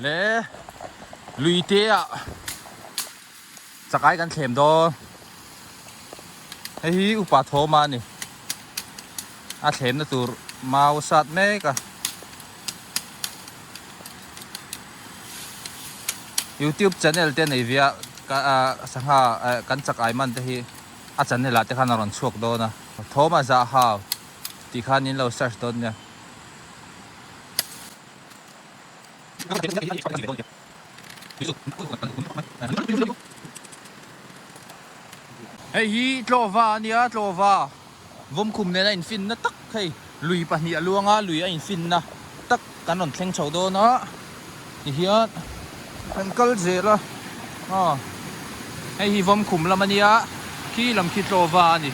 Le lui te ah chakai kan thlem dawn hei hi upa thawma a ni a thlemna tur mau sat mek a youtube channel te nei viah ka sangha kan chakai man te hi a channel ah te khan a rawn chhuak dawn a thawma zahau tih khan in lo search dawn nia Hei hi tlawva a nia tlawva vawmkhum nena infinna tak hei lui pahnih a luang a lui a infinna tak kan rawn thleng chho dawn a tihian kan kal zel a aw hei hi vawmkhum lam a nia khi lam khi tlawva a ni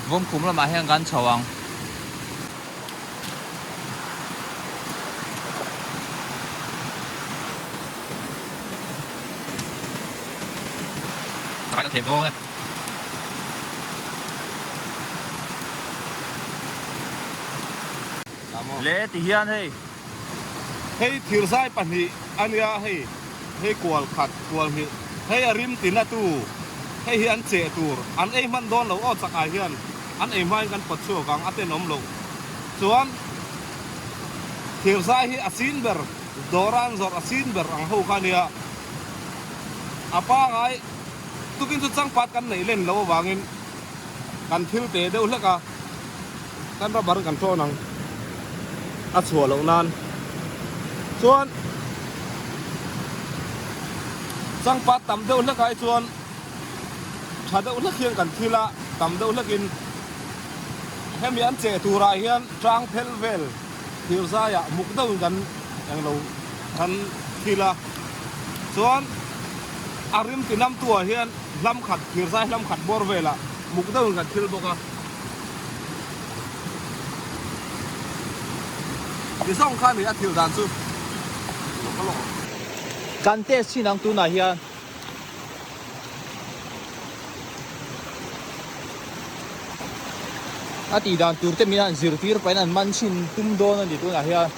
vawmkhum lamah hian kan chho ang. Hei thirzai pahnih a nia hei, hei kual khat, kual hnih, hei a rim ti na tu, hei hi an cheh tur an ei hman dawn lo aw chak ah hian, An ei hmain kan pawt chhuak ang, a ten awm loh chuan thirsai hi a sin ber, dawran zawrh a sin ber ang ho kha nia. A pangai tukin chu changpat kan neih len lo avangin kan thil teh deuh hlek a, kan rubber kan ṭawn ang a chhuah loh nan chuan changpat tam deuh hlekah hi chuan, tha deuh hlek hian kan thil a, tam deuh hlekin hemi an cheh turah hian tang phel vel thirzai ah muk deuhin kan eng lo kan thil a, chuan a rim tinam tu ah hian hlam khat thirzai hlam khat bawr vel ah muk deuhin kan thil bawk a, ti zawng kha a ni a thil dan chu. Kan test chin ang tunah hian a tih dan tur te min han zir tir pahin an man chhin tum dawn a ni tunah hian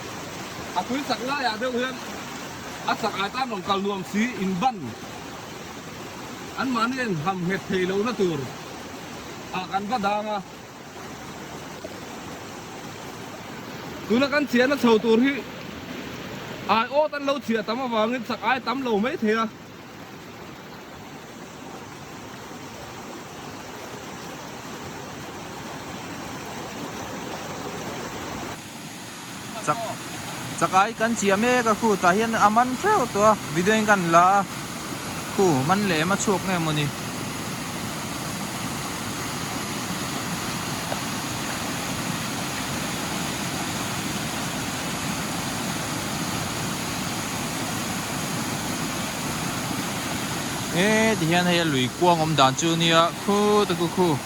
a tui chak laiah deuh hian a chak ai tan rawn kal nuam si in ban anmahniin ham nghet thei lohna tur ah kan va dang a. Tuna kan chiahna chho tur hi ai awt an lo chhiah tam avangin chak ai tam lo mai thei a. chak chakai kan chiah mek a khu tah hian a man feu tawh a video in kan la a khu man leh em a chhuak nge maw ni e ti hian hei a lui kuang awm dan chu nia khu te khu khu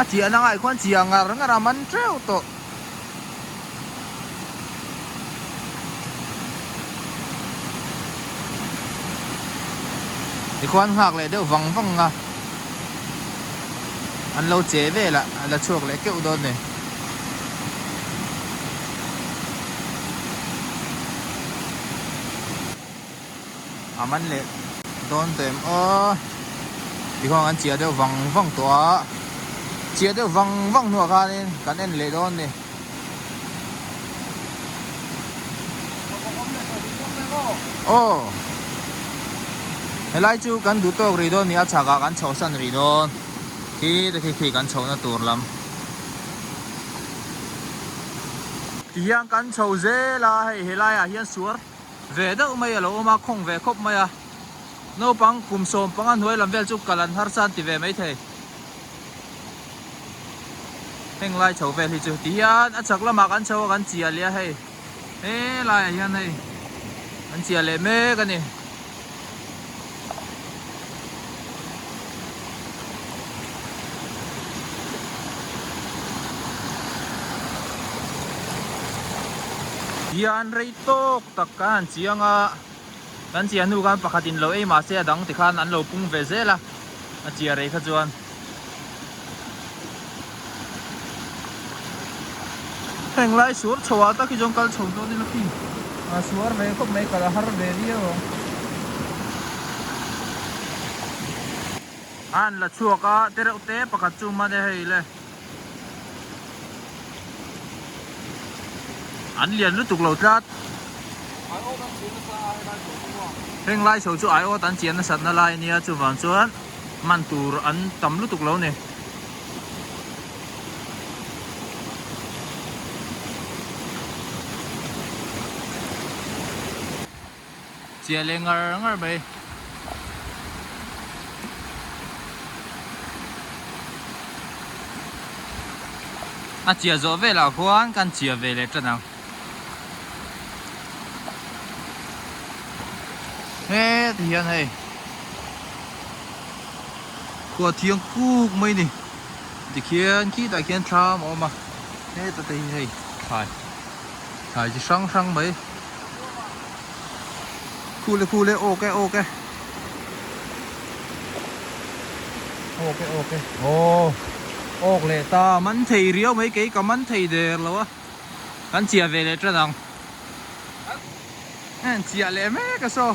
A chi a na ngai khuan chi a ngar ngar a man teuh tawh. I khuan nghak leh deuh vang vang a. An lo che vel a, a la chhuak leh keuh dawn e. a man leh dawn ta em aw ti khawnga kan chiah deuh vang vang tawh a chiah deuh vang vang hnuah khanin kan en leh dawn ni aw helai chu kan duh tawk rih dawn ni a chhakah kan chhohsan rih dawn khi te khi khi kan chhohna tur lam. Ti hian kan chho zel a, hei he laiah hian suar ve deuh mai a lo awm a, khawng ve khawp mai a. Naupang kum sawm panga hnuai lam vel chu kal an har san ti ve mai thei. Heng lai chho vel hi chu ti hian a chak lamah kan chho a, kan chiah leh a hei. He laiah hian hei an chiah leh mek a ni. Hian rei tawk tak ka han chiang a. Kan chia hnu khan pakhat in lo ei mah se a dang tikhan an lo pung ve zel a, a chia rei kha chuan. Heng lai suar chhoal tak hi zawng kal chho dawn ila khi, a suar ve khawp mai kal a har ve viau ang. An la chhuak a, te reuh te pakhat chu made hei le. An lian lutuk lo tlat. Aiawt an chian nasa ai lai tawh chu a. Heng lai so chu aiawt an chian nasat na lai ania chuvang chuan man tur an tam lutuk lo ni. Chiah leh ngar ngar mai. A chiah zawh velah khuan kan chiah ve leh tan ang. Hêt hian hei. Khuah thiang kûk mai ni. Tikhian khitah khian thlam a awm a. Hêt a te hi hei thlai. Thlai chi hrang hrang mai. Cool e cool e ok e ok e Ok e ok e Aw ok leh ta man thei riau mai kei ka man thei der lo a Kan chiah ve leh tran ang An chiah leh mek a saw.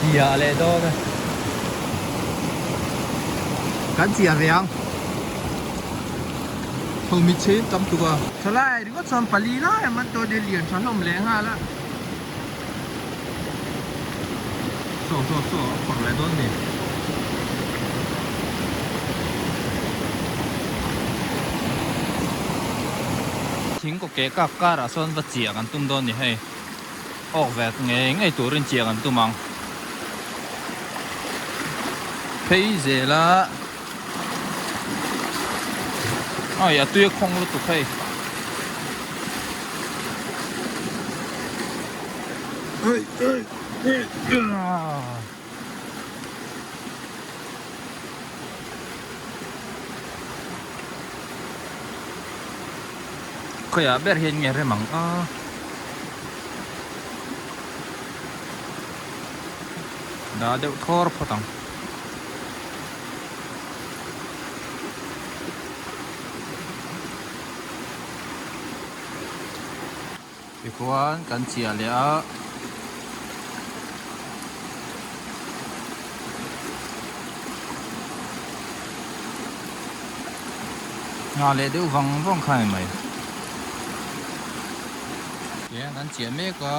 chia leh dawn a kan chia riang tho mi chhim tam tuk a thalai ringawt chuan pali lai ang an tawh a ni a lian tha hlawm leh nghal a. Thingkung keh kak karah sawn va chiah kan tum dawn ni hei. Awk vel ngei ngei turin chiah kan tum ang. Phei zela. Ai, a tui a khawng lutuk hei. Ai, ai, ai, ah. Khoi a ber hian nge remang a. Da deuh thawr phawt ang. Tichuan kan chiah leh a. Nghah leh deuh vang vang kha em mai. Tichuan kan chiah mek a.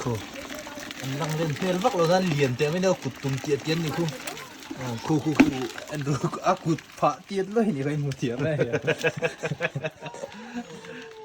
Khu, an lang len hmel vak lo zan lian teh mai neu kut tum tih a ti an ni khu. Khu khu khu, Andrew a kut phah tiat luai a ni kha, i hmu thiam e.